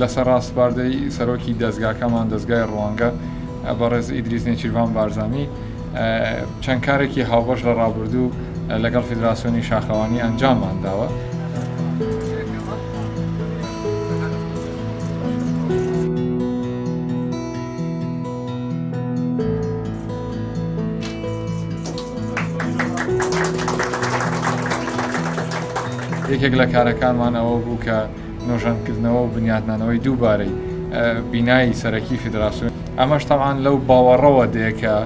لەسەر ڕاسپاردەی سەرۆکی دەزگاکەمان دەزگای ڕوانگە بەڕێز ئیدریس نێچیرڤان بارزانی چەند کارێکی هاوبەش لە ڕابردوو لەگەڵ فیدراسیۆنی شاخەوانی ئەنجاممان داوە. یەکێک لە کارەکانمان ئەوە بوو کە نۆژەنکردنەوە و بنیاتنانەوەی دووبارەی بینایی سەرەکی فیدراسیون ئەمەش تاوان لەو باوەڕەوە دێکە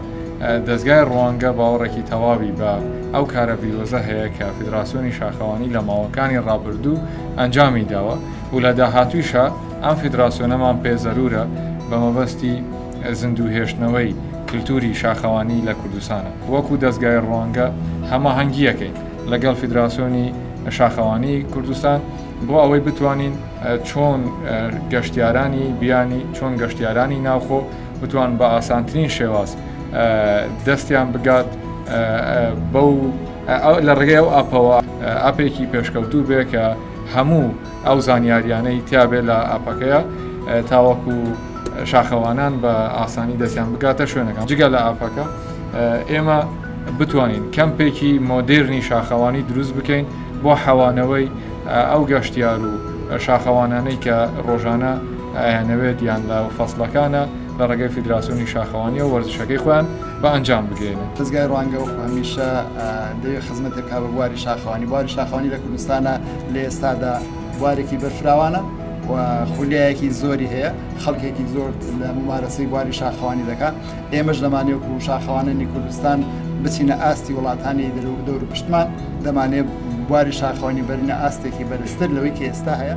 دەستگای ڕوانگە باوەڕێکی تەواوی بە ئەو کارە بیرۆزە هەیە کە فیدراسیۆنی شاخەوانی لە ماوەکانی ڕابردوو ئەنجامی داوە و لە داهاتویشە ئەم فیدراسیۆنەمان پێ زەرورە بە مەبەستی زیندووهێشتنەوەی کلتووری شاخەوانی لە کوردستانە. وەکو دەزگای ڕوانگە هەماهەنگییەکەی لەگەڵ فیدراسیۆنی شاخەوانی کوردستان بۆ ئەوەی بتوانین چۆن گەشتیارانی بیانی چۆن گەشتیارانی ناوخۆ بتوان بە ئاسانترین شێواز دەستیان بگات بەو لە ڕێگەی ئەو ئاپەوە ئاپێکی پێشکەوتوو بێ کە هەموو ئەو زانیاریانەی تیابێت لە ئاپەکەیە تاوەکو شاخەوانان بە ئاسانی دەستیان بگاتە شوێنەکان جگە لە ئاپەکە ئێمە بتوانین کەمپێکی مۆدررنی شاخەوانی دروست بکەین بۆ حەوانەوەی ئەو گەشتیار و شاخەوانانەی کە ڕۆژانە ئەیانەوێت یان لە فەسلەکانە لە ڕێگەی فیدراسیۆنی شاخەوانی و وەرزشەکەی خۆیان بە ئەنجام بگەێنن دەزگای ڕوانگە وەکو هەمیشە دەوێت خزمەتێک کا بە بواری شاخوانی بواری شاخوانی لە کوردستانە لە ئێستادا بوارێکی بەرفراوانە و خولیایەکی زۆری هەیە خەڵکێکی زۆر لە ممارەسەی بواری شاخوانی دەکات ئێمەش دەمانێت و شاخوانانی کوردستان بچینە ئاستی وڵاتانی دەرو دەور پشتمان دەمانێت بواری شاخوانی بەرنە ئاستێکی بەرزتر لەوەی کە ئێستا هەیە.